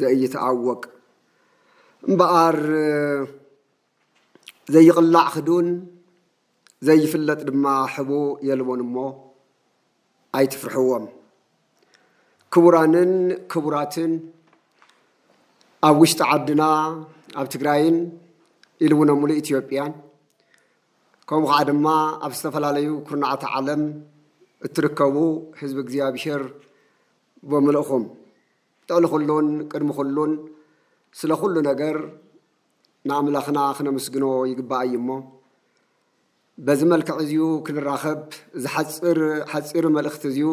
ዘይትኣወቅ እምበኣር ዘይቕላዕ ክዱን ዘይፍለጥ ድማ ሕቡ የልቦን እሞ ኣይትፍርሕዎም። ክቡራንን ክቡራትን ኣብ ውሽጢ ዓድና ኣብ ትግራይን ኢሉ እውን ኣብ ሙሉእ ኢትዮጵያን ከምኡ ከዓ ድማ ኣብ ዝተፈላለዩ ኩርናዓት ዓለም እትርከቡ ህዝቢ እግዚኣብሔር ብምልእኹም ልዕሊ ኹሉን ቅድሚ ኹሉን ስለ ኹሉ ነገር ንኣምላኽና ክነምስግኖ ይግባእ እዩ እሞ በዚ መልክዕ እዚዩ ክንራኸብ እዚ ሓፅር ሓፂር መልእኽቲ እዚዩ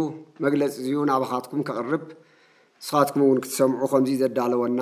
መግለፂ እዚዩ ናባኻትኩም ከቕርብ ንስኻትኩም እውን ክትሰምዑ ከምዚ ዘዳለወና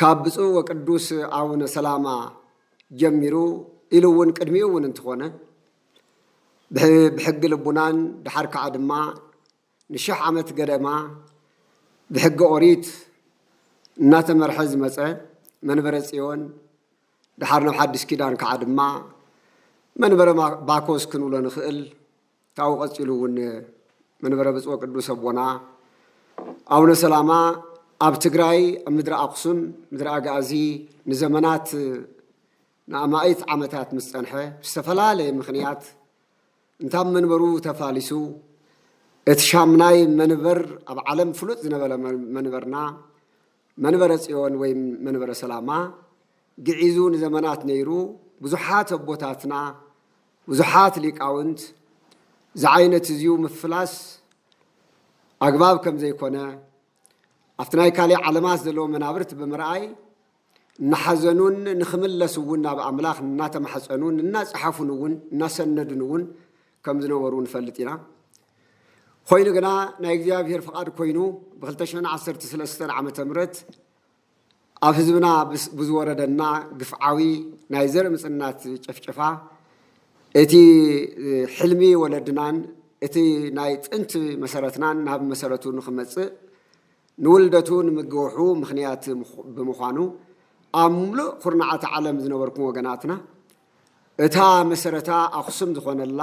ካብ ብፁዕ ወቅዱስ ኣቡነ ሰላማ ጀሚሩ ኢሉ እውን ቅድሚኡ እውን እንትኾነ ብሕጊ ልቡናን ድሓር ከዓ ድማ ንሽሕ ዓመት ገደማ ብሕጊ ኦሪት እናተመርሐ ዝመፀ መንበረ ፅዮን ድሓር ናብ ሓድሽ ኪዳን ከዓ ድማ መንበረ ባኮስ ክንብሎ ንኽእል ካብኡ ቀፂሉ እውን መንበረ ብፁዕ ቅዱስ ኣቦና ኣቡነ ሰላማ ኣብ ትግራይ ኣብ ምድሪ ኣክሱም ምድሪ ኣጋእዚ ንዘመናት ንኣማኢት ዓመታት ምስ ፀንሐ ዝተፈላለየ ምክንያት እንታብ መንበሩ ተፋሊሱ እቲ ሻምናይ መንበር ኣብ ዓለም ፍሉጥ ዝነበረ መንበርና መንበረ ጽዮን ወይም መንበረ ሰላማ ግዒዙ ንዘመናት ነይሩ ብዙሓት ኣቦታትና ብዙሓት ሊቃውንት ዝዓይነት እዚዩ ምፍላስ ኣግባብ ከም ዘይኮነ ኣብቲ ናይ ካልእ ዓለማት ዘለዎ መናብርት ብምርኣይ እናሓዘኑን ንክምለስ እውን ናብ ኣምላኽ እናተማሕፀኑን እናፀሓፉን እውን እናሰነዱን እውን ከም ዝነበሩ ንፈልጥ ኢና ኾይኑ ግና ናይ እግዚኣብሔር ፍቓድ ኮይኑ ብ2013 ዓ ም ኣብ ህዝብና ብዝወረደና ግፍዓዊ ናይ ዘርኢ ምፅናት ጨፍጨፋ እቲ ሕልሚ ወለድናን እቲ ናይ ጥንቲ መሰረትናን ናብ መሰረቱ ንክመፅእ ንውልደቱ ንምግውሑ ምክንያት ብምዃኑ ኣብ ሙሉእ ኩርናዓት ዓለም ዝነበርኩም ወገናትና እታ መሰረታ ኣኽሱም ዝኾነላ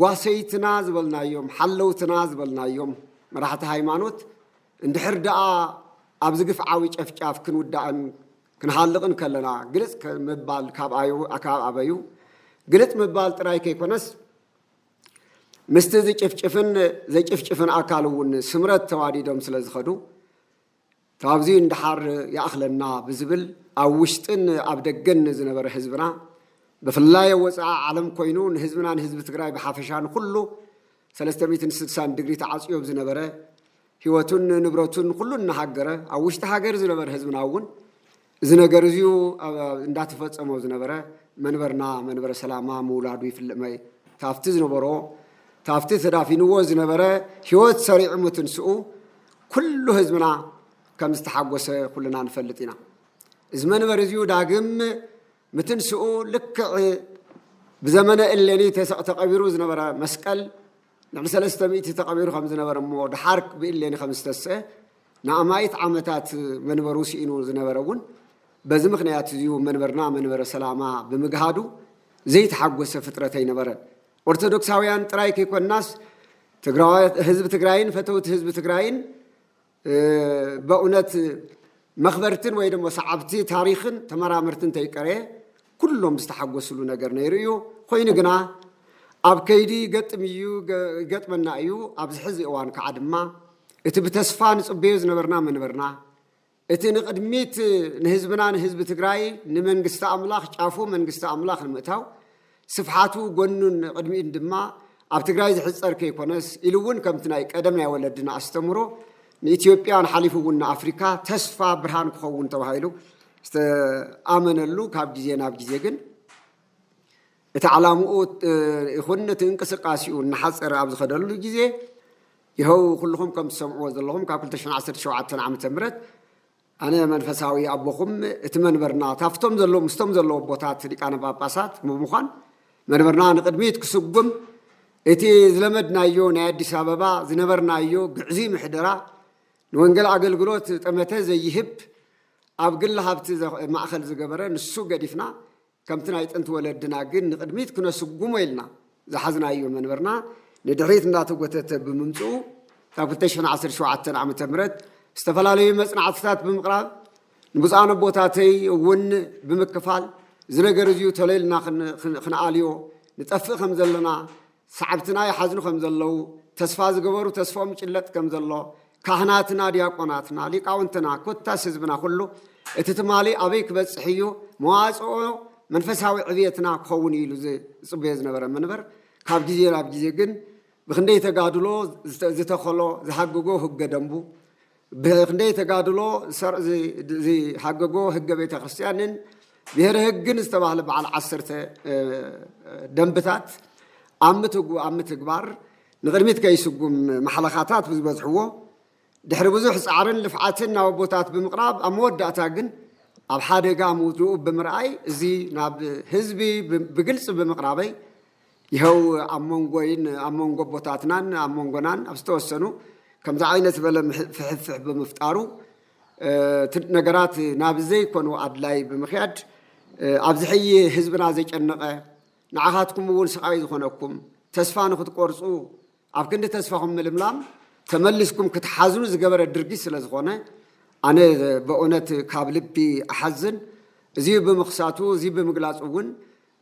ጓሰይትና ዝበልናዮም፣ ሓለውትና ዝበልናዮም መራሕቲ ሃይማኖት እንድሕር ደኣ ኣብዚ ግፍዓዊ ጨፍጫፍ ክንውዳእን ክንሃልቕን ከለና ግልፅ ምባል ካብ ኣበዩ? ግልፅ ምባል ጥራይ ከይኮነስ ምስቲ ዝጭፍጭፍን ዘጭፍጭፍን ኣካል እውን ስምረት ተዋዲዶም ስለዝኸዱ ካብዚ ንደሓር ይኣኽለና ብዝብል ኣብ ውሽጥን ኣብ ደገን ዝነበረ ህዝብና ብፍላይ ኣብ ወፃኢ ዓለም ኮይኑ ንህዝብና ንህዝቢ ትግራይ ብሓፈሻ ንኹሉ ሰለስተ ሚእትን ስድሳን ድግሪ ተዓፅዮ ብ ዝነበረ ህይወቱን ንብረቱን ኹሉ እናሃገረ ኣብ ውሽጢ ሃገር ዝነበረ ህዝብና እውን እዚ ነገር እዚዩ እንዳተፈፀሞ ዝነበረ መንበርና መንበረ ሰላማ ምውላዱ ይፍልጥ ታፍቲ ዝነበሮ ታፍቲ ተዳፊንዎ ዝነበረ ህይወት ሰሪዑ ምትንስኡ ኩሉ ህዝብና ከም ዝተሓጎሰ ኩልና ንፈልጥ ኢና። እዚ መንበሪ እዚዩ ዳግም ምትንስኡ ልክዕ ብዘመነ እሌኒ ተሰዕ ተቐቢሩ ዝነበረ መስቀል ልዕሊ ሰለስተ ሚእቲ ተቐቢሩ ከም ዝነበረ እሞ ድሓር ብእሌኒ ከም ዝተስዐ ንኣማኢት ዓመታት መንበሩ ስኢኑ ዝነበረ እውን በዚ ምክንያት እዚዩ መንበርና መንበረ ሰላማ ብምግሃዱ ዘይተሓጎሰ ፍጥረት ኣይነበረን። ኦርቶዶክሳውያን ጥራይ ከይኮናስ ህዝቢ ትግራይን ፈተውቲ ህዝቢ ትግራይን በእውነት መኽበርትን ወይ ደሞ ሰዓብቲ ታሪኽን ተመራመርትን ተይቀረ ኩሎም ዝተሓጎስሉ ነገር ነይሩ እዩ። ኮይኑ ግና ኣብ ከይዲ ይገጥም እዩ ይገጥመና እዩ ኣብዚ ሕዚ እዋን ከዓ ድማ እቲ ብተስፋ ንፅበዮ ዝነበርና መንበርና እቲ ንቅድሚት ንህዝብና ንህዝቢ ትግራይ ንመንግስቲ ኣምላኽ ጫፉ መንግስቲ ኣምላኽ ንምእታው ስፍሓቱ ጎኑን ቕድሚኡን ድማ ኣብ ትግራይ ዝሕፀር ከይኮነስ ኢሉ እውን ከምቲ ናይ ቀደም ናይ ወለድና ኣስተምህሮ ንኢትዮጵያን ሓሊፉ እውን ንኣፍሪካ ተስፋ ብርሃን ክኸውን ተባሂሉ ዝተኣመነሉ ካብ ግዜ ናብ ግዜ ግን እቲ ዓላምኡ ይኹን እቲ እንቅስቃሴኡ እናሓፀረ ኣብ ዝኸደሉ ግዜ ይኸው ኩልኹም ከም ትሰምዕዎ ዘለኹም ካብ 217 ዓ ም ኣነ መንፈሳዊ ኣቦኹም እቲ መንበርና ታፍቶም ዘለዉ ምስቶም ዘለዉ ኣቦታት ሊቃነ ጳጳሳት ብምዃን መንበርና ንቕድሚት ክስጉም እቲ ዝለመድናዮ ናይ ኣዲስ ኣበባ ዝነበርናዮ ግዕዙይ ምሕደራ ንወንጌል ኣገልግሎት ጠመተ ዘይህብ ኣብ ግሊ ሃብቲ ማእኸል ዝገበረ ንሱ ገዲፍና ከምቲ ናይ ጥንቲ ወለድና ግን ንቕድሚት ክነስጉሞ ኢልና ዝሓዝናዮ መንበርና ንድሕሪት እንዳተጎተተ ብምምፅኡ ካብ 2017 ዓ.ም ዝተፈላለዩ መፅናዕትታት ብምቕራብ ንብፁዓን ኣቦታተይ እውን ብምክፋል እዚ ነገር እዚዩ ተለልና ክንኣልዮ ንጠፍእ ከም ዘለና ሰዓብትና ይሓዝኑ ከም ዘለዉ፣ ተስፋ ዝገበሩ ተስፍኦም ይጭለጥ ከም ዘሎ፣ ካህናትና፣ ዲያቆናትና፣ ሊቃውንትና፣ ኮታስ ህዝብና ኩሉ፣ እቲ ትማሊ ኣበይ ክበጽሕ እዩ፣ መዋጽኦ መንፈሳዊ ዕብየትና ክኸውን እዩ ኢሉ ዝጽበዮ ዝነበረ መንበር፣ ካብ ግዜ ናብ ግዜ ግን ብክንደይ ተጋድሎ ዝተኸሎ ዝሃገጎ ህገ ደንቡ፣ ብክንደይ ተጋድሎ ሰርዕ ዝሃገጎ ህገ ቤተ ክርስቲያንን ብሔረ ህግን ዝተባህለ በዓል ዓሰርተ ደንብታት ኣብ ምትግባር ንቅድሚት ከይስጉም ማሕለኻታት ብዝበዝሕዎ ድሕሪ ብዙሕ ፃዕርን ልፍዓትን ናብ ኣቦታት ብምቕራብ ኣብ መወዳእታ ግን ኣብ ሓደጋ ምውድኡ ብምርኣይ እዚ ናብ ህዝቢ ብግልፂ ብምቕራበይ ይሀው ኣብ መንጎይን ኣብ መንጎ ኣቦታትናን ኣብ መንጎናን ኣብ ዝተወሰኑ ከምዚ ዓይነት ዝበለ ፍሕፍሕ ብምፍጣሩ ነገራት ናብ ዘይኮኑ ኣድላይ ብምክያድ ኣብዚ ሕይ ህዝብና ዘጨነቐ ንዓኻትኩም እውን ስቓይ ዝኾነኩም ተስፋ ንክትቆርፁ ኣብ ክንዲ ተስፋኹም ምልምላም ተመሊስኩም ክትሓዝኑ ዝገበረ ድርጊት ስለ ዝኾነ ኣነ በእውነት ካብ ልቢ እሓዝን እዚ ብምኽሳቱ እዚ ብምግላፁ እውን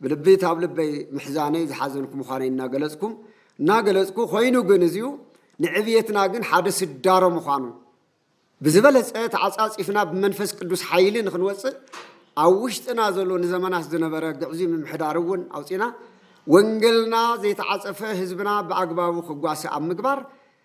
ብልቢ ታብ ልበይ ምሕዛነይ ዝሓዘንኩ ምዃነይ እናገለጽኩ እናገለጽኩ ኮይኑ ግን እዚኡ ንዕብየትና ግን ሓደ ስዳሮ ምዃኑ ብዝበለጸ ተዓጻጺፍና ብመንፈስ ቅዱስ ሓይሊ ንክንወጽእ ኣብ ውሽጥና ዘሎ ንዘመናት ዝነበረ ግዕዙይ ምምሕዳር እውን ኣውጺና ወንገልና ዘይተዓጸፈ ህዝብና ብኣግባቡ ክጓሰ ኣብ ምግባር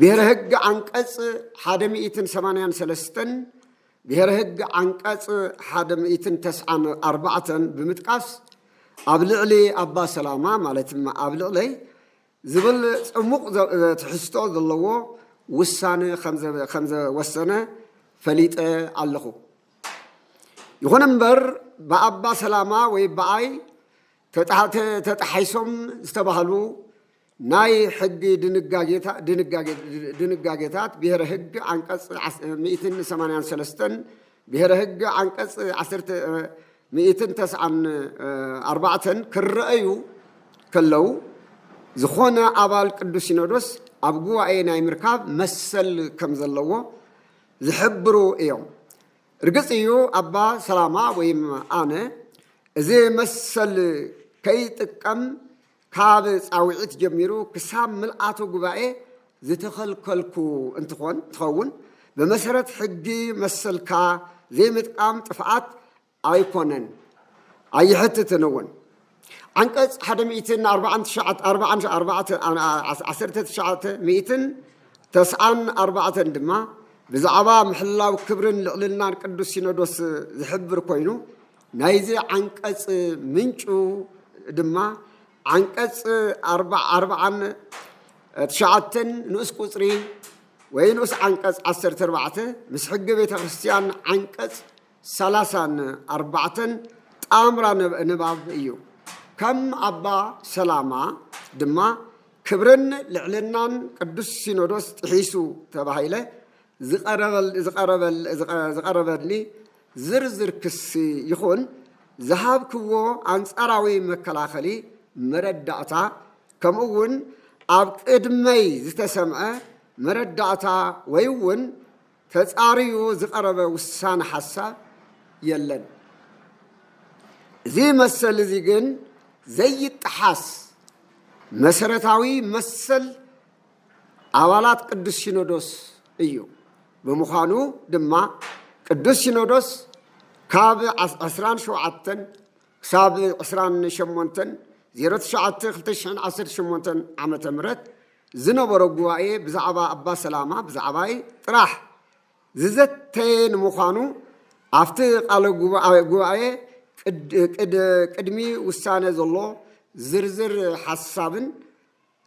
ብሄረ ህግ ዓንቀፅ ሓደ ሚእትን ሰማንያን ሰለስተን ብሄረ ህግ ዓንቀፅ ሓደ ሚእትን ተስዓን ኣርባዕተን ብምጥቃስ ኣብ ልዕሊ ኣባ ሰላማ ማለት ኣብ ልዕለይ ዝብል ፅሙቕ ትሕዝቶ ዘለዎ ውሳነ ከምዘወሰነ ፈሊጠ ኣለኹ። ይኹን እምበር ብኣባ ሰላማ ወይ ብኣይ ተጣሒሶም ዝተባህሉ ናይ ሕጊ ድንጋጌታት ብሄረ ህግ ዓንቀፅ ሚእትን ሰማንያን ሰለስተን ብሄረ ህግ ዓንቀፅ ዓሰርተ ሚእትን ተስዓን ኣርባዕተን ክረኣዩ ከለው ዝኾነ ኣባል ቅዱስ ሲኖዶስ ኣብ ጉባኤ ናይ ምርካብ መሰል ከም ዘለዎ ዝሕብሩ እዮም። እርግፅ እዩ ኣባ ሰላማ ወይም ኣነ እዚ መሰል ከይጥቀም ካብ ፃውዒት ጀሚሩ ክሳብ ምልኣተ ጉባኤ ዝተኸልከልኩ እንትኾን እንትኸውን ብመሰረት ሕጊ መሰልካ ዘይምጥቃም ጥፍኣት ኣይኮነን ኣይሕትትን እውን ዓንቀፅ ሓደ ሚእትን ኣርባዓን ትሽዓተ ኣርባዓን ኣርባዕተ ዓሰርተ ትሽዓተ ሚእትን ተስዓን ኣርባዕተን ድማ ብዛዕባ ምሕላው ክብርን ልዕልናን ቅዱስ ሲኖዶስ ዝሕብር ኮይኑ ናይዚ ዓንቀፅ ምንጩ ድማ ዓንቀፅ ኣርብዓን ትሽዓተን ንኡስ ቁፅሪ ወይ ንኡስ ዓንቀፅ ዓሰርተ ኣርባዕተ ምስ ሕጊ ቤተ ክርስቲያን ዓንቀፅ ሰላሳን ኣርባዕተን ጣምራ ንባብ እዩ። ከም ኣባ ሰላማ ድማ ክብርን ልዕልናን ቅዱስ ሲኖዶስ ጥሒሱ ተባሂለ ዝቐረበኒ ዝርዝር ክሲ ይኹን ዝሃብክዎ ኣንጻራዊ መከላኸሊ መረዳእታ ከምኡ'ውን ኣብ ቅድመይ ዝተሰምዐ መረዳእታ ወይ'ውን ተጻርዩ ዝቐረበ ውሳነ ሓሳብ የለን። እዚ መሰል እዚ ግን ዘይጠሓስ መሰረታዊ መሰል ኣባላት ቅዱስ ሲኖዶስ እዩ። ብምዃኑ ድማ ቅዱስ ሲኖዶስ ካብ ዕስራን ሸውዓተን ክሳብ ዕስራን ሸሞንተን ዜሮ ትሽዓተ ክልተ ሽሕን ዓሰርተ ሸሞንተን ዓመተ ምህረት ዝነበሮ ጉባኤ ብዛዕባ ኣባ ሰላማ ብዛዕባይ ጥራሕ ዝዘተየ ንምዃኑ ኣብቲ ቃለ ጉባኤ ቅድሚ ውሳነ ዘሎ ዝርዝር ሓሳብን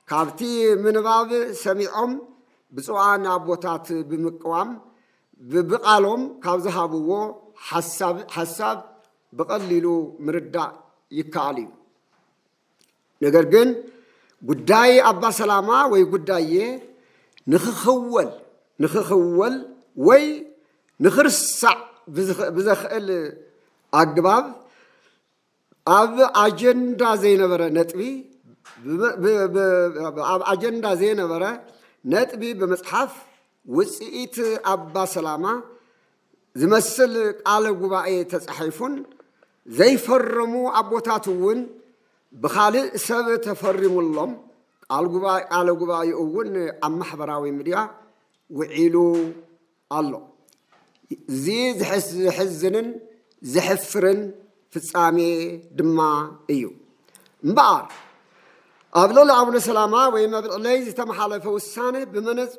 ካብቲ ምንባብ ሰሚዖም ብፁዓን ኣቦታት ብምቅዋም ብብቓሎም ካብ ዝሃብዎ ሓሳብ ሓሳብ ብቐሊሉ ምርዳእ ይከኣል እዩ። ነገር ግን ጉዳይ ኣባ ሰላማ ወይ ጉዳዬ ንክኽወል ንክኽወል ወይ ንክርሳዕ ብዘኽእል ኣግባብ ኣብ ኣጀንዳ ዘይነበረ ነጥቢ ኣብ ኣጀንዳ ዘይነበረ ነጥቢ ብምፅሓፍ ውፅኢት ኣባ ሰላማ ዝመስል ቃለ ጉባኤ ተፃሒፉን ዘይፈረሙ ኣቦታት እውን ብኻልእ ሰብ ተፈሪሙሎም ቃለ ጉባኤኡ እውን ኣብ ማሕበራዊ ሚድያ ውዒሉ ኣሎ። እዚ ዘሕዝንን ዘሕፍርን ፍጻሜ ድማ እዩ። እምበኣር ኣብ ልዕሊ ኣቡነ ሰላማ ወይም ኣብ ልዕለይ ዝተመሓለፈ ውሳነ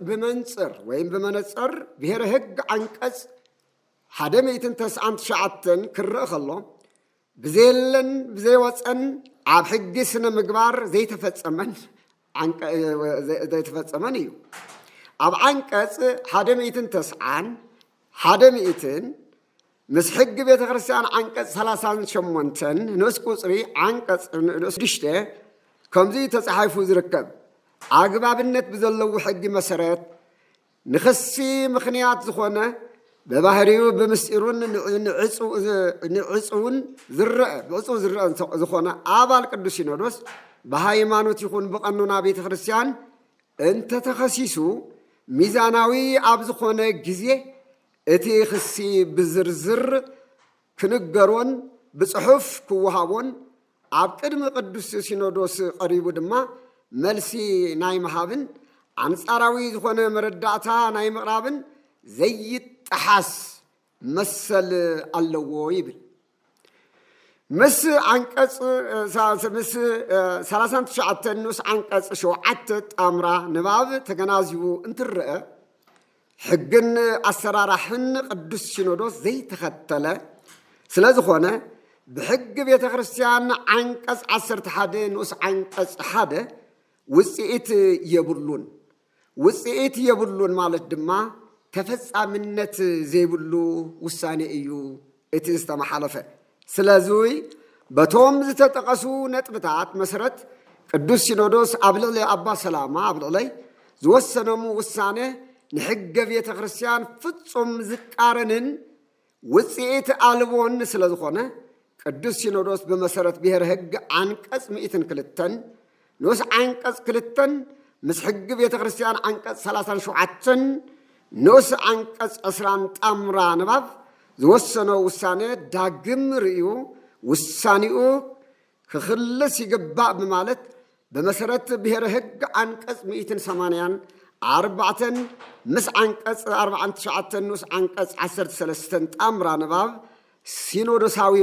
ብመንፅር ወይም ብመነፅር ብሔረ ህግ ዓንቀፅ ሓደ ሚእትን ተስዓን ትሽዓተን ክረእ ከሎ ብዘየለን ብዘይወፀን ኣብ ሕጊ ስነ ምግባር ዘይተፈፀመን ዘይተፈፀመን እዩ። ኣብ ዓንቀፅ ሓደ ሚእትን ተስዓን ሓደ ሚእትን ምስ ሕጊ ቤተ ክርስቲያን ዓንቀፅ ሰላሳን ሸሞንተን ንኡስ ቁፅሪ ዓንቀፅ ንኡስ ሽዱሽተ ከምዚ ተፃሒፉ ዝርከብ ኣግባብነት ብዘለዉ ሕጊ መሰረት ንክሲ ምኽንያት ዝኾነ በባህሪኡ ብምስጢሩን ንዕፅውን ዝረአ ብዕፅው ዝረአ ዝኾነ ኣባል ቅዱስ ሲኖዶስ ብሃይማኖት ይኹን ብቐኖና ቤተ ክርስቲያን እንተተኸሲሱ ሚዛናዊ ኣብ ዝኾነ ግዜ እቲ ክሲ ብዝርዝር ክንገሮን ብፅሑፍ ክወሃቦን ኣብ ቅድሚ ቅዱስ ሲኖዶስ ቀሪቡ ድማ መልሲ ናይ ምሃብን ኣንጻራዊ ዝኾነ መረዳእታ ናይ ምቕራብን ዘይጠሓስ መሰል ኣለዎ ይብል። ምስ ዓንቀጽ ምስ ሰላሳን ትሽዓተን ንኡስ ዓንቀጽ ሸውዓተ ጣምራ ንባብ ተገናዚቡ እንትረአ ሕግን ኣሰራራሕን ቅዱስ ሲኖዶስ ዘይተኸተለ ስለ ዝኾነ ብሕጊ ቤተ ክርስቲያን ዓንቀጽ ዓሰርተ ሓደ ንኡስ ዓንቀጽ ሓደ ውፅኢት የብሉን። ውፅኢት የብሉን ማለት ድማ ተፈጻምነት ዘይብሉ ውሳኔ እዩ እቲ ዝተመሓለፈ ስለዙይ በቶም ዝተጠቐሱ ነጥብታት መሰረት ቅዱስ ሲኖዶስ ኣብ ልዕሊ ኣባ ሰላማ ኣብ ልዕለይ ዝወሰኖም ውሳነ ንሕገ ቤተ ክርስቲያን ፍጹም ዝቃረንን ውፅኢት ኣልቦን ስለ ዝኾነ ቅዱስ ሲኖዶስ ብመሰረት ብሔር ሕግ ዓንቀጽ ምእትን ክልተን ንኡስ ዓንቀፅ ክልተን ምስ ሕጊ ቤተ ክርስቲያን ዓንቀፅ ሰላሳን ሸውዓተን ንኡስ ዓንቀፅ ዕስራን ጣምራ ንባብ ዝወሰኖ ውሳነ ዳግም ርእዩ ውሳኔኡ ክኽልስ ይግባእ ብማለት ብመሰረት ብሔረ ሕግ ዓንቀፅ ሚእትን ሰማንያን ኣርባዕተን ምስ ዓንቀፅ ኣርባዓን ትሽዓተን ንኡስ ዓንቀፅ ዓሰርተ ሰለስተን ጣምራ ንባብ ሲኖዶሳዊ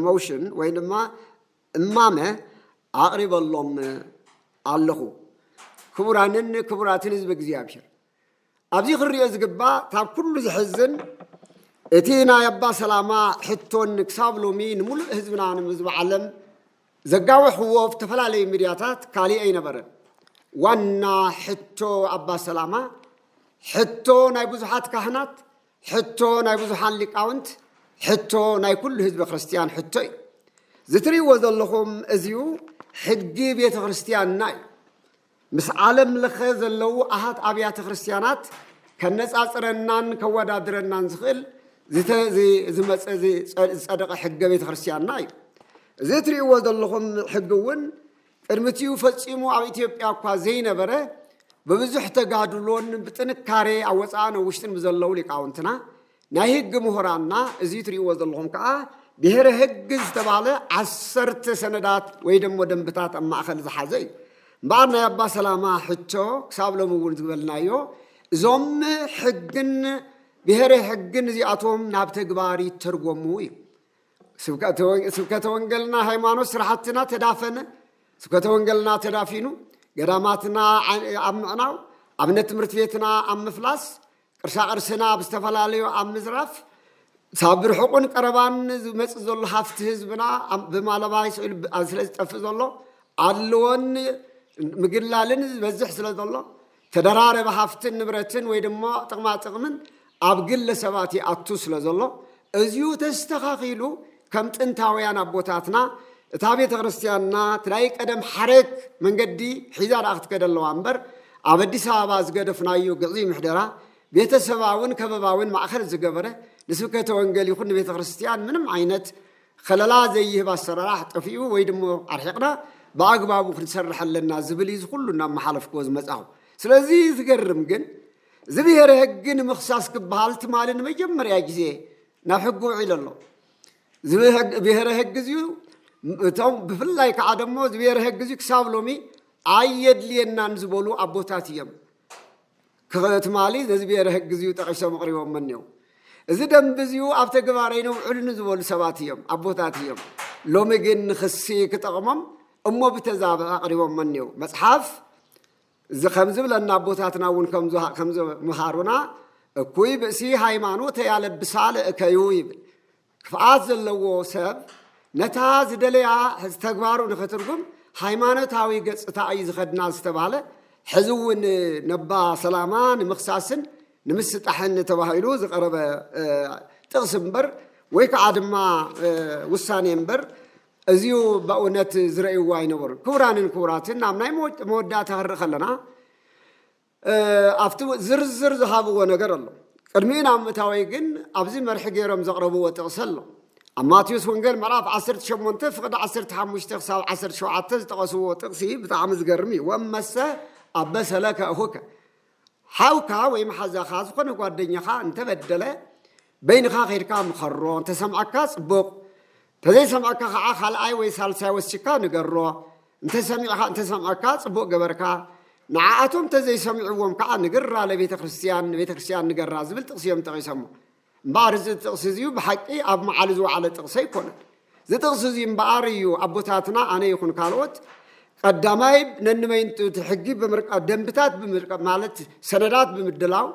ሞሽን ወይ ድማ እማመ ኣቕሪበሎም ኣለኹ። ክቡራንን ክቡራትን ህዝቢ እግዚኣብሔር ኣብዚ ክንሪኦ ዝግባእ ካብ ኩሉ ዝሕዝን እቲ ናይ ኣባ ሰላማ ሕቶን ክሳብ ሎሚ ንምሉእ ህዝብና ንህዝቢ ዓለም ዘጋወሕዎ ዝተፈላለዩ ሚድያታት ካሊእ ኣይነበረን። ዋና ሕቶ ኣባ ሰላማ ሕቶ ናይ ብዙሓት ካህናት ሕቶ ናይ ብዙሓን ሊቃውንት ሕቶ ናይ ኩሉ ህዝበ ክርስትያን ሕቶ እዩ። ዝትሪእዎ ዘለኹም እዚዩ ሕጊ ቤተ ክርስትያንና እዩ። ምስ ዓለም ለኸ ዘለዉ ኣሃት ኣብያተ ክርስትያናት ከነጻጽረናን ከወዳድረናን ዝኽእል ዝመፀ ዝፀደቐ ሕገ ቤተ ክርስትያንና እዩ። እዚ እትሪእዎ ዘለኹም ሕጊ እውን ቅድሚ'ቲኡ ፈጺሙ ኣብ ኢትዮጵያ እኳ ዘይነበረ ብብዙሕ ተጋድሎን ብጥንካሬ ኣብ ወጻእን ኣብ ውሽጥን ብዘለዉ ሊቃውንትና፣ ናይ ህግ ምሁራንና፣ እዚ ትርእይዎ ዘለኹም ከኣ ብሄረ ህግ ዝተባህለ ዓሰርተ ሰነዳት ወይ ደሞ ደንብታት ኣብ ማእከል ዝሓዘ እዩ። እምበኣር ናይ ኣባ ሰላማ ሕቶ ክሳብ ሎሚ እውን ዝበልናዮ እዞም ሕግን ብሄረ ሕግን እዚኣቶም ናብ ተግባር ይተርጎሙ እዩ። ስብከተ ወንገልና ሃይማኖት ስራሕትና ተዳፈነ። ስብከተ ወንገልና ተዳፊኑ ገዳማትና ኣብ ምዕናው፣ ኣብነት ትምህርቲ ቤትና ኣብ ምፍላስ፣ ቅርሳቅርስና ኣብ ዝተፈላለዩ ኣብ ምዝራፍ ሳብ ብርሕቁን ቀረባን ዝመፅእ ዘሎ ሃፍቲ ህዝብና ብማለባይ ስዕሉ ስለ ዝጠፍእ ዘሎ ኣድልዎን ምግላልን ዝበዝሕ ስለ ዘሎ ተደራረቢ ሃፍትን ንብረትን ወይ ድማ ጥቕማ ጥቕምን ኣብ ግለ ሰባት ይኣቱ ስለ ዘሎ እዚኡ ተስተኻኺሉ ከም ጥንታውያን ኣቦታትና እታ ቤተ ክርስቲያንና ትላይ ቀደም ሓረግ መንገዲ ሒዛ ደኣ ክትከደ ኣለዋ እምበር ኣብ ኣዲስ ኣበባ ዝገደፍናዮ ግዕዚ ምሕደራ ቤተሰባውን ከበባውን ማእኸል ዝገበረ ንስብከተ ወንጌል ይኹን ንቤተ ክርስቲያን ምንም ዓይነት ኸለላ ዘይህብ ኣሰራራሕ ጠፊኡ ወይ ድሞ ኣርሒቕና ብኣግባቡ ክንሰርሕ ኣለና ዝብል እዩ ዝኹሉ እናመሓለፍክዎ ዝመፃኹ። ስለዚ ዝገርም ግን እዚ ብሄረ ህግ ንምኽሳስ ክበሃል ትማሊ ንመጀመርያ ግዜ ናብ ሕጊ ውዒሉ ኣሎ። እዚ ብሄረ ህግ እዚዩ እቶም ብፍላይ ከዓ ደሞ እዚ ብሄረ ህግ እዚዩ ክሳብ ሎሚ ኣየድልየናን ዝበሉ ኣቦታት እዮም። ክኸ ትማሊ ነዚ ብሄረ ህግ እዚዩ ጠቂሶም ኣቕሪቦሞ እኒው እዚ ደንቢ እዚዩ ኣብ ተግባር ኣይነውዕሉ ንዝበሉ ሰባት እዮም ኣቦታት እዮም ሎሚ ግን ንክሲ ክጠቕሞም እሞ ብተዛብ ኣቕሪቦሞ እኒው መፅሓፍ እዚ ከምዝብለና ኣቦታትና እውን ከምዝምሃሩና እኩይ ብእሲ ሃይማኖት ያለብሳ ለእከዩ ይብል ክፍኣት ዘለዎ ሰብ ነታ ዝደለያ ተግባሩ ንክትርጉም ሃይማኖታዊ ገፅታ እዩ ዝኸድና ዝተባህለ ሕዚ እውን ነባ ሰላማ ንምኽሳስን ንምስጣሕን ተባሂሉ ዝቐረበ ጥቕሲ እምበር ወይ ከዓ ድማ ውሳኔ እምበር እዚዩ በእውነት ዝረእይዎ ኣይነበሩን። ክቡራንን ክቡራትን ናብ ናይ መወዳእታ ክንርኢ ከለና ኣብቲ ዝርዝር ዝሃብዎ ነገር ኣሎ፣ ቅድሚኡ ናብ ምእታወይ ግን ኣብዚ መርሒ ገይሮም ዘቕረብዎ ጥቕሲ ኣሎ። ኣብ ማቴዎስ ወንጌል ምዕራፍ ዓሰርተ ሸሞንተ ፍቕዲ ዓሰርተ ሓሙሽተ ክሳብ ዓሰርተ ሸውዓተ ዝጠቐስዎ ጥቕሲ ብጣዕሚ ዝገርም እዩ፣ ወመሰ ኣበሰ ለከ እኹከ፣ ሓውካ ወይም ሓዛኻ ዝኾነ ጓደኛኻ እንተበደለ በይንኻ ከይድካ ምኸሮ፣ እንተሰምዓካ ጽቡቕ፣ ተዘይሰምዐካ ከዓ ካልኣይ ወይ ሳልሳይ ወሲካ ንገሮ እንተሰሚዕኻ እንተሰምዐካ ፅቡቅ ገበርካ ንዓኣቶም እንተዘይሰሚዕዎም ከዓ ንግራ ለቤተክርስትያን ንቤተክርስትያን ንገራ ዝብል ጥቅሲ እዮም ጠቂሰሞ እምበኣር እዚ ጥቅሲ እዚዩ ብሓቂ ኣብ መዓሉ ዝወዓለ ጥቅሲ ኣይኮነን እዚ ጥቅሲ እዚ እምበኣር እዩ ኣቦታትና ኣነ ይኹን ካልኦት ቀዳማይ ነንመይንቱ እቲ ሕጊ ብምርቃ ደንብታት ማለት ሰነዳት ብምድላው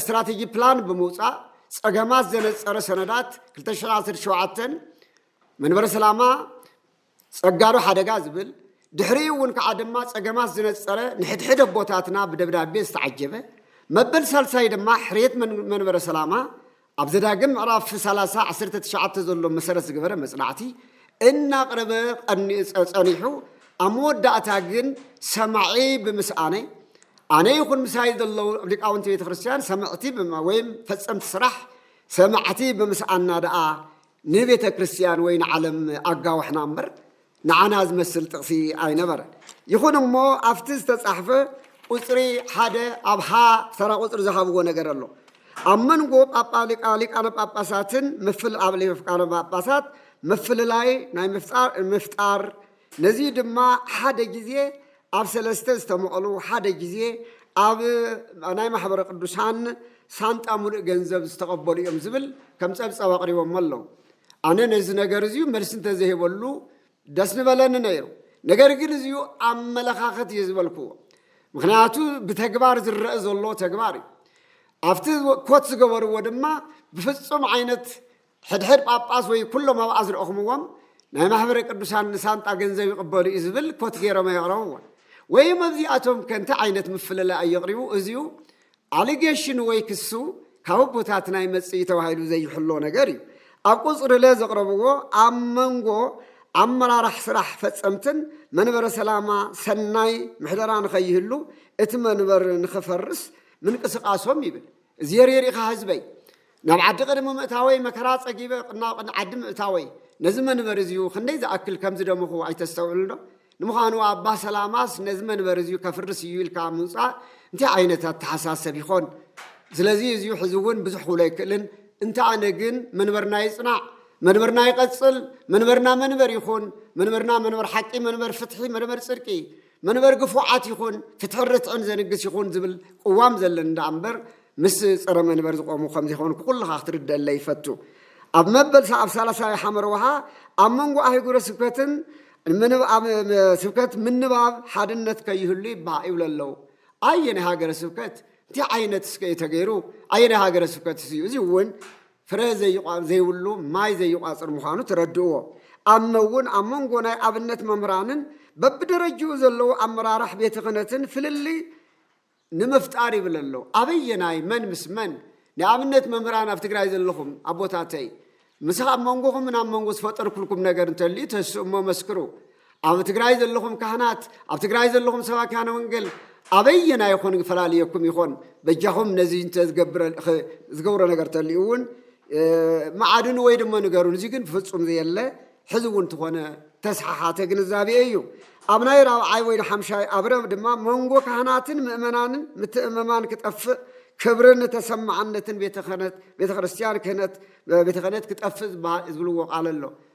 ስትራቴጂ ፕላን ብምውፃእ ፀገማት ዘነፀረ ሰነዳት 217 መንበረ ሰላማ ፀጋዶ ሓደጋ ዝብል ድሕሪኡ እውን ከዓ ድማ ፀገማት ዝነፀረ ንሕድሕድ ኣቦታትና ብደብዳቤ ዝተዓጀበ መበል ሳልሳይ ድማ ሕርየት መንበረ ሰላማ ኣብ ዘዳግም ምዕራፍ ሰላሳ ዓሰርተ ትሽዓተ ዘሎ መሰረት ዝገበረ መጽናዕቲ እናቕረበ ጸኒሑ ኣብ መወዳእታ ግን ሰማዒ ብምስኣነ ኣነ ይኹን ምሳይ ዘለዉ ሊቃውንቲ ቤተ ክርስቲያን ሰምዕቲ ወይም ፈጸምቲ ስራሕ ሰማዕቲ ብምስኣና ደኣ ንቤተ ክርስቲያን ወይ ንዓለም ኣጋዋሕና እምበር ንዓና ዝመስል ጥቕሲ ኣይነበረን። ይኹን እሞ ኣብቲ ዝተጻሕፈ ቁጽሪ ሓደ ኣብ ሀ ተራ ቁጽሪ ዝሃብዎ ነገር ኣሎ። ኣብ መንጎ ሊቃነ ጳጳሳትን ኣብ ሊቃነ ጳጳሳት ምፍልላይ ናይ ምፍጣር ነዚ ድማ ሓደ ግዜ ኣብ ሰለስተ ዝተመቐሉ ሓደ ግዜ ኣብ ናይ ማሕበረ ቅዱሳን ሳንጣ ሙሉእ ገንዘብ ዝተቐበሉ እዮም ዝብል ከም ጸብጻብ ኣቕሪቦሞ ኣለዉ። ኣነ ነዚ ነገር እዚዩ መልሲ እንተዘይበሉ ደስ ንበለኒ ነይሩ። ነገር ግን እዚዩ ኣመለኻኸት እዩ ዝበልክዎ። ምክንያቱ ብተግባር ዝረአ ዘሎ ተግባር እዩ። ኣብቲ ኮት ዝገበርዎ ድማ ብፍጹም ዓይነት ሕድሕድ ጳጳስ ወይ ኩሎም ኣብኣ ዝረእኹምዎም ናይ ማኅበረ ቅዱሳን ንሳንጣ ገንዘብ ይቕበሉ እዩ ዝብል ኮት ገይሮም ኣየቕረብዎን። ወይም ኣብዚኣቶም ከ እንታይ ዓይነት ምፍልላይ ኣዩ ኣቕሪቡ? እዚዩ ኣሊጌሽን ወይ ክሱ ካብ ኣቦታትና ይመጽእ እዩ ተባሂሉ ዘይሕሎ ነገር እዩ። ኣብ ቁጽሪ ለ ዘቕረብዎ ኣብ መንጎ ኣመራራሕ ስራሕ ፈጸምትን መንበረ ሰላማ ሰናይ ምሕደራ ንኸይህሉ እቲ መንበር ንኸፈርስ ምንቅስቃሶም ይብል። እዚየርየር ኢኻ ህዝበይ። ናብ ዓዲ ቅድሚ ምእታወይ መከራ ጸጊበ ናብ ቅድሚ ዓዲ ምእታወይ ነዚ መንበሪ እዚዩ ክንደይ ዝኣክል ከም ዝደመኹ ኣይተስተውዕልንዶ? ንምዃኑ ኣባ ሰላማስ ነዚ መንበሪ እዚዩ ከፍርስ እዩ ኢልካ ምውጻእ እንታይ ዓይነት ኣተሓሳሰብ ይኾን? ስለዚ እዚዩ ሕዚ እውን ብዙሕ ክብሎ ኣይክእልን እንተ ኣነ ግን መንበርና ይጽናዕ መንበርና ይቐጽል መንበርና መንበር ይኹን መንበርና መንበር ሓቂ መንበር ፍትሒ መንበር ጽድቂ መንበር ግፉዓት ይኹን ፍትሕን ርትዕን ዘንግስ ይኹን ዝብል ቅዋም ዘለኒ ደኣ እምበር ምስ ጸረ መንበር ዝቖሙ ከም ዘይኮንኩ ኩልኻ ክትርደለይ ይፈቱ። ኣብ መበል ኣብ ሳላሳዊ ሓመር ውሃ ኣብ መንጎ ኣህጉረ ስብከትን ስብከት ምንባብ ሓድነት ከይህሉ ይበሃ ይብሉ ኣለዉ። ኣየናይ ሃገረ ስብከት እንታይ ዓይነት እስከ እዩ ተገይሩ? ኣየናይ ሃገረ ስብከት እዩ? እዚ እውን ፍረ ዘይብሉ ማይ ዘይቋጽር ምዃኑ ተረድእዎ። ኣነ'ውን ኣብ መንጎ ናይ ኣብነት መምህራንን በብደረጅኡ ዘለዉ ኣመራራሕ ቤተ ክህነትን ፍልልይ ንምፍጣር ይብል ኣሎ። ኣበየናይ መን ምስ መን? ንኣብነት መምህራን ኣብ ትግራይ ዘለኹም ኣቦታተይ፣ ምስ ኣብ መንጎኹምን ኣብ መንጎ ዝፈጠርኩልኩም ነገር እንተልዩ ተስእሞ መስክሩ። ኣብ ትግራይ ዘለኹም ካህናት፣ ኣብ ትግራይ ዘለኹም ሰባኪያነ ወንጌል ኣበየና ይኾን ፈላልየኩም ይኾን? በጃኹም ነዚ እንተ ዝገብሮ ነገር ተልዩ እውን መዓድኑ ወይ ድማ ንገሩን። እዚ ግን ፍጹም ዘየለ ሕዚ እውን ዝኾነ ተስሓሓተ ግንዛቤ እዩ። ኣብ ናይ ራብዓይ ወይ ሓምሻይ ኣብረ ድማ መንጎ ካህናትን ምእመናንን ምትእምማን ክጠፍእ ክብርን ተሰማዕነትን ቤተ ክርስቲያን ክህነት ቤተ ክህነት ክጠፍእ ዝብልዎ ቃል ኣሎ።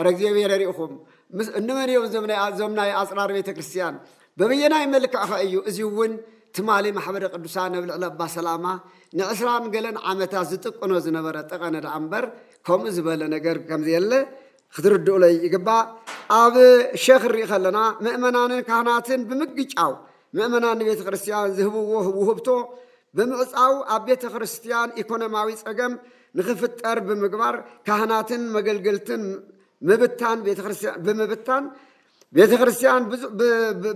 ኣረ እግዚብሄረ ርኢኹም ምስ እንመን እዮም እዞም ናይ ኣፅራር ቤተ ክርስቲያን በበየናይ መልክዕኸ እዩ እዚ እውን ትማሊ ማሕበረ ቅዱሳን ኣብ ልዕሊ ኣባ ሰላማ ንዕስራን ገለን ዓመታት ዝጥቅኖ ዝነበረ ጠቐነ ደኣ እምበር ከምኡ ዝበለ ነገር ከምዘየለ ክትርድኡለይ ይግባእ ኣብ ሸኽ ንርኢ ከለና ምእመናንን ካህናትን ብምግጫው ምእመናን ንቤተ ክርስቲያን ዝህብዎ ውህብቶ ብምዕጻው ኣብ ቤተ ክርስቲያን ኢኮኖሚያዊ ጸገም ንኽፍጠር ብምግባር ካህናትን መገልገልትን ምብታን ቤተ ክርስቲያን ብምብታን ቤተ ክርስቲያን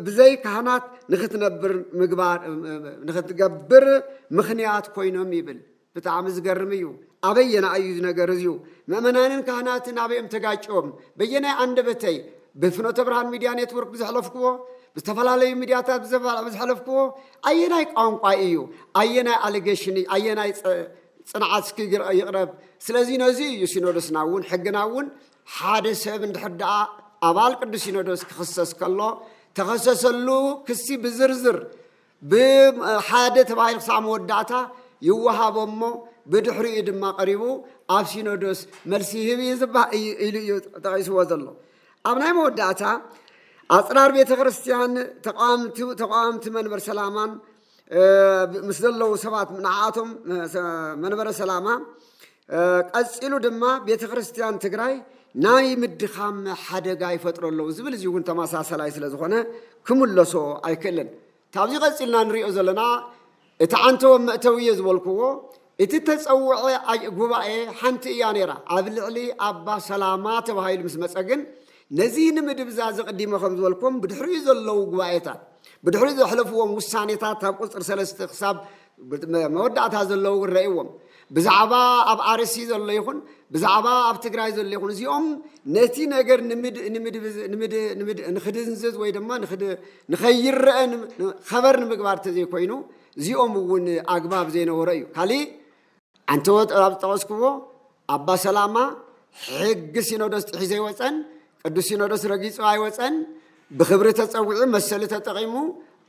ብዘይ ካህናት ንክትነብር ምግባር ንክትገብር ምክንያት ኮይኖም ይብል። ብጣዕሚ ዝገርም እዩ ኣበየናይ እዩ ዝነገር እዝዩ መእመናንን ካህናትን ኣበዮም ተጋጭዮም በየናይ ኣንደበተይ ብፍኖተ ብርሃን ሚድያ ኔትወርክ ብዘሕለፍክዎ ብዝተፈላለዩ ሚድያታት ብዝሐለፍክዎ ኣየናይ ቋንቋ እዩ ኣየናይ ኣሊጌሽን እዩ ኣየናይ ፅንዓት እስኪ ይቕረብ ስለዚ ነዚ እዩ ሲኖዶስና እውን ሕግና እውን ሓደ ሰብ እንድሕር ደኣ ኣባል ቅዱስ ሲኖዶስ ክኽሰስ ከሎ ተኸሰሰሉ ክሲ ብዝርዝር ብ ሓደ ተባሂሉ ክሳዕ መወዳእታ ይወሃቦ እሞ ብድሕሪኡ ድማ ቀሪቡ ኣብ ሲኖዶስ መልሲ ይህብ እዩ ዝባ እዩ ኢሉ እዩ ጠቒስዎ ዘሎ ኣብ ናይ መወዳእታ ኣፅራር ቤተ ክርስቲያን ተቃዋምቲ ተቃዋምቲ መንበር ሰላማን ምስ ዘለዉ ሰባት ንዓኣቶም መንበረ ሰላማ ቀፂሉ ድማ ቤተክርስትያን ትግራይ ናይ ምድኻም ሓደጋ ይፈጥሮ ኣለዉ ዝብል እዚ እውን ተመሳሰላይ ስለ ዝኾነ ክምለሶ ኣይክእልን ካብዚ ቀፂልና ንሪኦ ዘለና እቲ ዓንተወ መእተዊ እየ ዝበልክዎ እቲ ተፀውዐ ጉባኤ ሓንቲ እያ ነይራ ኣብ ልዕሊ ኣባ ሰላማ ተባሂሉ ምስ መፀ ግን ነዚ ንምድብዛዝ ዘቕዲመ ከም ዝበልኩም ብድሕሪኡ ዘለዉ ጉባኤታት ብድሕሪኡ ዘሕለፍዎም ውሳኔታት ኣብ ቁፅሪ ሰለስተ ክሳብ መወዳእታ ዘለዉ እውን ረእዎም ብዛዕባ ኣብ ኣርሲ ዘሎ ይኹን ብዛዕባ ኣብ ትግራይ ዘሎ ይኹን እዚኦም ነቲ ነገር ንክድንዝዝ ወይ ድማ ንኸይረአ ኸበር ንምግባር ተዘይኮይኑ እዚኦም እውን ኣግባብ ዘይነበሮ እዩ ካሊእ ኣንተወ ኣብ ዝጠቐስክዎ ኣባ ሰላማ ሕጊ ሲኖዶስ ጥሒሱ ኣይወፀን፣ ቅዱስ ሲኖዶስ ረጊፁ ኣይወፀን፣ ብኽብሪ ተፀዊዑ መሰሉ ተጠቒሙ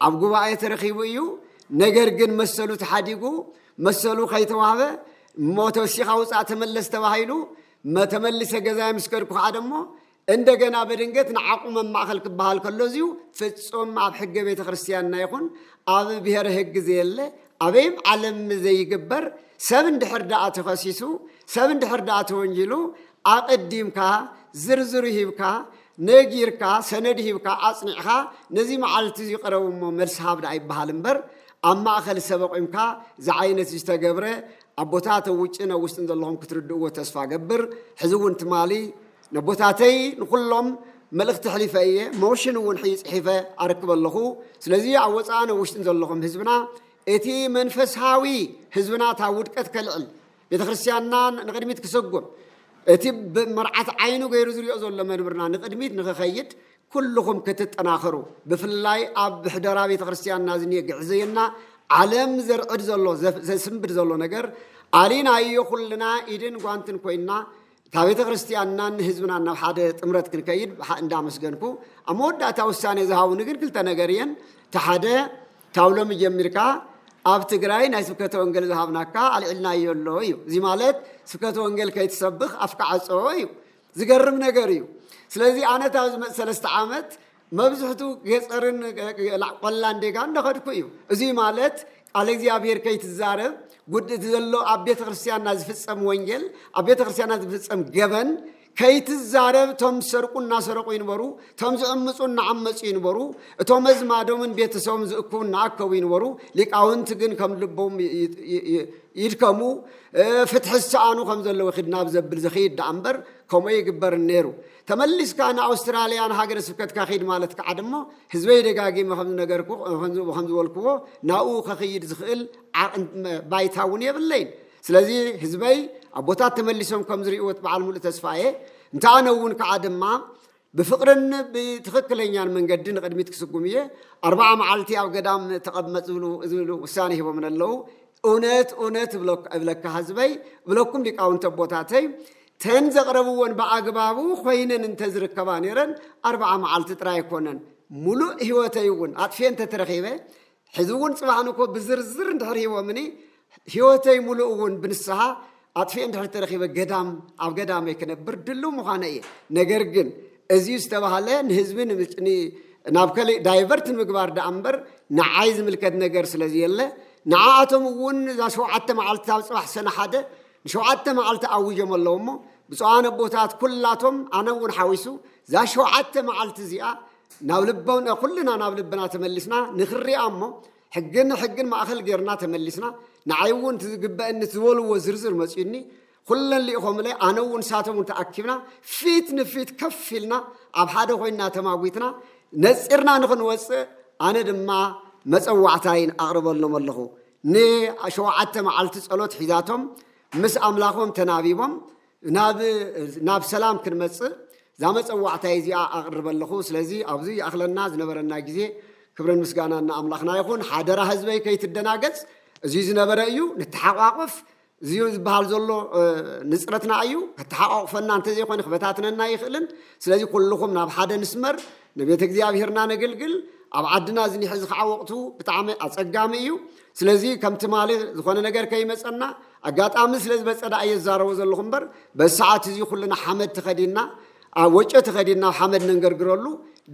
ኣብ ጉባኤ ተረኺቡ እዩ። ነገር ግን መሰሉ ተሓዲጉ መሰሉ ከይተዋህበ እሞ ተወሲኻ ውፃእ ተመለስ ተባሂሉ መተመልሰ ገዛይ ምስ ከድኩ ከዓ ደሞ እንደገና በድንገት ንዓቁ መማእኸል ክበሃል ከሎ እዚዩ ፍፁም ኣብ ሕገ ቤተ ክርስቲያንና ይኹን ኣብ ብሔረ ህግ ዘየለ ኣበይም ዓለም ዘይግበር ሰብ እንድሕር ደኣ ተኸሲሱ ሰብ እንድሕር ደኣ ተወንጂሉ ኣቐዲምካ ዝርዝሩ ሂብካ ነጊርካ ሰነድ ሂብካ ኣጽኒዕኻ ነዚ መዓልቲ እዚ ቅረቡ እሞ መልሲ ሃብ ደኣ ይበሃል እምበር ኣብ ማእኸል ሰብ ኣቑምካ ዝዓይነት ዝተገብረ ኣቦታት ኣብ ውጭን ኣብ ውስጥን ዘለኹም ክትርድእዎ ተስፋ ገብር ሕዚ እውን ትማሊ ነቦታተይ ንኹሎም መልእኽቲ ኣሕሊፈ እየ፣ ሞሽን እውን ሕጂ ጽሒፈ ኣረክብ ኣለኹ። ስለዚ ኣብ ወጻእን ኣብ ውሽጥን ዘለኹም ህዝብና እቲ መንፈሳዊ ህዝብና እታ ውድቀት ከልዕል ቤተ ክርስቲያንና ንቕድሚት ክሰጉም እቲ መርዓት ዓይኑ ገይሩ ዝሪኦ ዘሎ መንብርና ንቕድሚት ንክኸይድ ኩልኹም ክትጠናኸሩ ብፍላይ ኣብ ብሕደራ ቤተ ክርስቲያንና ዝኒየ ግዕዘየና ዓለም ዘርዕድ ዘሎ ዘስንብድ ዘሎ ነገር ኣሊናዮ ኩልና ኢድን ጓንትን ኮይና እታ ቤተ ክርስቲያንናን ህዝብናን ናብ ሓደ ጥምረት ክንከይድ ብሓ እንዳመስገንኩ ኣብ መወዳእታ ውሳኔ ዝሃቡኒ ግን ክልተ ነገር እየን እቲ ሓደ ካብ ሎሚ ጀሚርካ ኣብ ትግራይ ናይ ስብከተ ወንጌል ዝሃብናካ ኣልዒልናዮ ኣሎ እዩ እዚ ማለት ስብከተ ወንጌል ከይትሰብኽ ኣፍካ ዓፀዎ እዩ ዝገርም ነገር እዩ ስለዚ ኣነ እታ ዝመፅ ሰለስተ ዓመት መብዝሕቱ ገፀርን ቆላን ዴጋ እንዳኸድኩ እዩ። እዙይ ማለት ቃለ እግዚኣብሔር ከይትዛረብ ጉድ እቲ ዘሎ ኣብ ቤተ ክርስቲያንና ዝፍፀም ወንጌል ኣብ ቤተ ክርስቲያንና ዝፍፀም ገበን ከይትዛረብ እቶም ዝሰርቁ እናሰረቁ ይንበሩ፣ እቶም ዝዕምፁ እናዓመፁ ይንበሩ፣ እቶም መዝማዶምን ቤተሰቦም ዝእክቡ እናኣከቡ ይንበሩ። ሊቃውንቲ ግን ከም ልቦም ይድከሙ፣ ፍትሒ ዝሰኣኑ ከም ዘለዉ ክድናብ ዘብል ዝኽይድ ደኣ እምበር ከምኡ ይግበርን ነይሩ። ተመሊስካ ንኣውስትራልያ ንሃገረ ስብከትካ ኪድ ማለት ከኣ ድማ ህዝበይ ደጋጊመ ከም ዝነገርኩ ከም ዝበልክዎ ናብኡ ከኽይድ ዝኽእል ባይታ እውን የብለይን ስለዚ ህዝበይ ኣቦታት ተመሊሶም ከም ዝርእዎት በዓል ሙሉእ ተስፋ እየ እንተ ኣነ እውን ከዓ ድማ ብፍቅርን ብትኽክለኛን መንገዲ ንቅድሚት ክስጉም እየ ኣርባዓ መዓልቲ ኣብ ገዳም ተቐመጥ ዝብሉ ዝብሉ ውሳኔ ሂቦምን ኣለዉ እውነት እውነት እብለካ ህዝበይ እብለኩም ሊቃውንተ ኣቦታተይ እተን ዘቕረብዎን ብኣግባቡ ኮይነን እንተዝርከባ ነይረን ኣርብዓ መዓልቲ ጥራይ ኣይኮነን ሙሉእ ህይወተይ እውን ኣጥፍኤ እንተተረኺበ ሕዚ እውን ፅባሕ ንኮ ብዝርዝር እንድሕር ሂቦምኒ ህይወተይ ሙሉእ እውን ብንስሓ ኣጥፍኤ እንድሕር ተረኺበ ገዳም ኣብ ገዳመይ ክነብር ድልው ምዃነ እየ ነገር ግን እዚ ዝተባሃለ ንህዝቢ ናብ ከሊእ ዳይቨርት ንምግባር ደኣ እምበር ንዓይ ዝምልከት ነገር ስለዘየለ ንዓኣቶም እውን እዛ ሸውዓተ መዓልቲ ኣብ ፅባሕ ሰነ ሓደ ንሸውዓተ መዓልቲ ኣዊጆም ኣለዉ እሞ ብፁዓን ኣቦታት ኩላቶም ኣነ እውን ሓዊሱ እዛ ሸውዓተ መዓልቲ እዚኣ ናብ ልቦና ኩልና ናብ ልብና ተመሊስና ንክሪኣ እሞ ሕግን ሕግን ማእኸል ጌርና ተመሊስና ንዓይ እውን እቲ ዝግበአኒ እቲ ዝበልዎ ዝርዝር መፅዩኒ ኩለን ልኢኾምለይ ኣነ እውን ንሳቶም እውን ተኣኪብና ፊት ንፊት ከፍ ኢልና ኣብ ሓደ ኮይና ተማጒትና ነፂርና ንክንወፅእ ኣነ ድማ መፀዋዕታይን ኣቕርበሎም ኣለኹ ንሸውዓተ መዓልቲ ጸሎት ሒዛቶም ምስ ኣምላኾም ተናቢቦም ናብ ሰላም ክንመጽእ እዛ መጸዋዕታይ እዚኣ ኣቕርበ ኣለኹ። ስለዚ ኣብዚ ይኣኽለና ዝነበረና ግዜ ክብርን ምስጋናን ንኣምላኽና ይኹን። ሓደራ ህዝበይ ከይትደናገጽ እዚ ዝነበረ እዩ፣ ንተሓቋቆፍ፣ እዚዮ ዝበሃል ዘሎ ንጽረትና እዩ፣ ከተሓቋቑፈና እንተዘይኮይኑ ክበታትነና ኣይኽእልን፣ ስለዚ ኩልኹም ናብ ሓደ ንስመር፣ ንቤተ እግዚኣብሔርና ነግልግል፣ ኣብ ዓድና እዚ ኒሕ እዚ ከዓ ወቕቱ ብጣዕሚ ኣጸጋሚ እዩ፣ ስለዚ ከም ትማሊ ዝኾነ ነገር ከይመጸና፣ ኣጋጣሚ ስለ ዝበጸ ደኣ እየ ዝዛረቦ ዘለኹ እምበር በዚ ሰዓት እዚ ኩልና ሓመድ ተኸዲንና ኣብ ወጮ ተኸዲንና ኣብ ሓመድ ነንገርግረሉ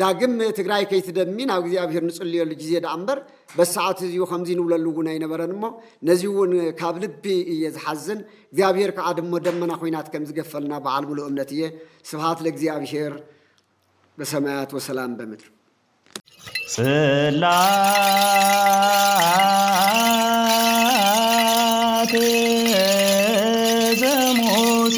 ዳግም ትግራይ ከይትደሚ ናብ እግዚኣብሔር ንጽልየሉ ግዜ ደኣ እምበር በዚ ሰዓት እዚኡ ከምዚ ንብለሉ እውን ኣይነበረን እሞ ነዚ እውን ካብ ልቢ እየ ዝሓዝን እግዚኣብሄር ከዓ ድሞ ደመና ኩናት ከም ዝገፈልና በዓል ሙሉእ እምነት እየ ስብሃት ለእግዚኣብሄር በሰማያት ወሰላም በምድር ጽላቴ ዘሙሴ